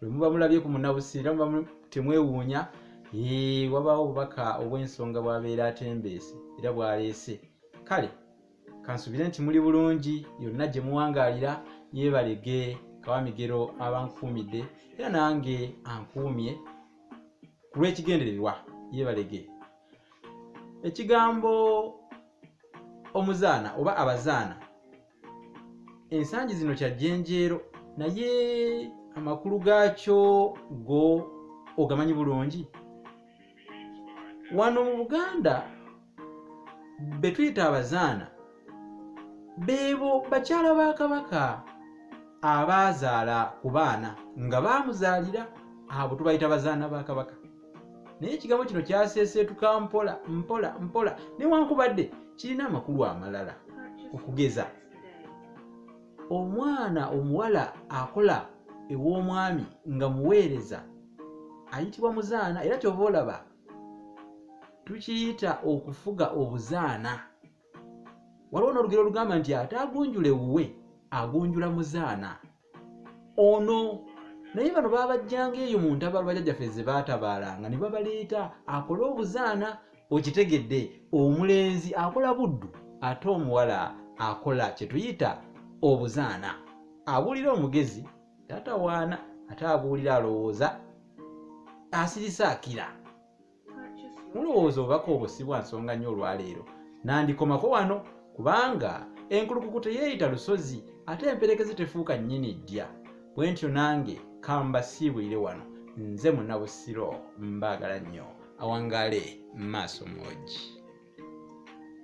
bwe muba mulabye ku munabusi era muba temwewuunya wabaawo obubaka obw'ensonga bwabeera atembeese era bwaleese kale kansubire nti muli bulungi yonna gye muwangaalira yeebalege kawamigero abankuumidde era nange ankuumye ku lw'ekigendererwa yeebalege ekigambo omuzaana oba abazaana ensangi zino kya jjenjeero naye amakulu gaakyo go ogamanyi bulungi wano mu buganda be tuyita abazaana beebo bakyala ba kabaka abaazaala ku baana nga baamuzaalira abo tubayita bazaana ba kabaka naye ekigambo kino kyaseeseetuka mpola mpola mpola newankubadde kirina amakulu amalala okugeza omwana omuwala akola ew'omwami nga muweereza ayitibwa muzaana era kyova olaba tukiyita okufuga obuzaana waliwo n'olugero olugamba nti ate agunjula ewuwe agunjula muzaana ono naye bano babajjanga eyo mu ntabalo bajajjaffe ze baatabaalanga ne babaleeta akole obuzaana okitegedde omulenzi akola buddu ate omuwala akola kye tuyita obuzaana abuulira omugezi tatawaana ate abuulira alowooza asirisa akira mulowooza obubaka obwo si bwa nsonga nnyo olwaleero nandikomako wano kubanga enkulukuku teyeeyita lusozi ate emperekeze tefuuka nnyini ddya bwe ntyo nange kamba siibulire wano nze munabusiro mbaagala nnyo awangaale maaso moogi